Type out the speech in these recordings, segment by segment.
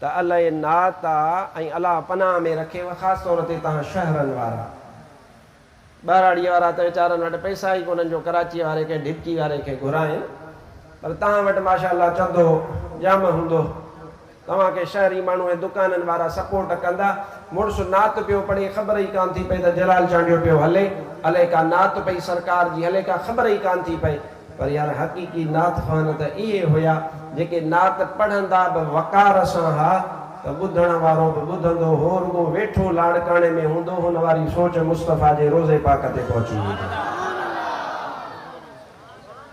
ته الائي نعت آ ۽ الله پناهه ۾ رکيو خاص طور تي توهان شهرن وارا ٻهراڙيء وارا ته ويچارن وٽ پئسا ئي ڪونهن جو ڪراچيء واري ڪنهن ڍڪي واري کي گهرائين پر توهان وٽ ماشاء الله چڌو ڄام هوندو توهان کي شهري ماڻهو ۽ دڪانن وارا سپورٽ ڪندا مڙس نعت پيو پڙهي خبر ئي ڪانه ٿي پئي ته جلال چانڊيو پيو هلي الائي ڪا نعت پئي سرڪار جي الائي ڪا خبر ئي ڪانه ٿي پئي پر يار حقيقي نعت خوان ته اهي هيا جيڪي نعت پڙهندا به وقار سان ها ته ٻڌڻ وارو به ٻڌندو هو رڳو ويٺو لاڙڪاڻي ۾ هوندو هن واري سوچ مصطفيٰ جي روضي پاڪ تي پهچي ويندي.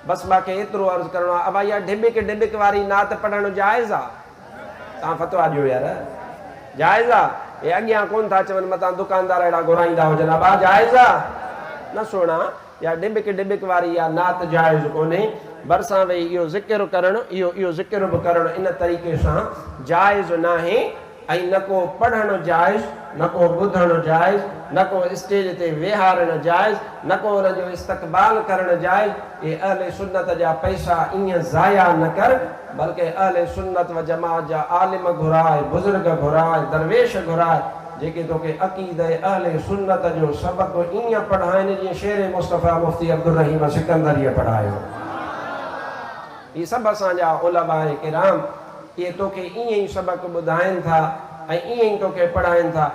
بس مان کي ايترو عرض ڪرڻو آهي ابا اها ڍٻڪ ڍٻڪ واري نعت پڙهڻ جائز آ تان فتويٰ ڏيو يار جائز آ هي اڳيان ڪون ٿا چون متان دڪاندار اهڙا گهرائيندا هجن ابا جائز آ نه سهڻا. يا ڊبڪ ڊبڪ واري يا نعت جائز ڪونهي، ڀرسان ويهي اهو ذڪر ڪرڻ، اهو اهو ذڪر به ڪرڻ ان طريقي سان جائز ناهي ۽ نه ڪو پڙهڻ جائز، نه ڪو ٻڌڻ جائز، نه ڪو اسٽيج تي ويهارڻ جائز، نه ڪو ان جو استقبال ڪرڻ جائز، اي اهل سنت جا پئسا ائين ضايع نه ڪر، بلڪه اهل سنت و جماعت جا عالم گهراء، بزرگ گهراء، درويش گهراء. جيڪي توکي عقيده اهل سنت جو سبق ائين پڙهائين جيئن شير مصطفيٰ مفتي عبدالرحيم سڪندريء پڙهايو هو. هي سڀ اسان جا علماء ڪرام اهي توکي ائين ئي سبق ٻڌائين ٿا ۽ ائين ئي توکي پڙهائين ٿا.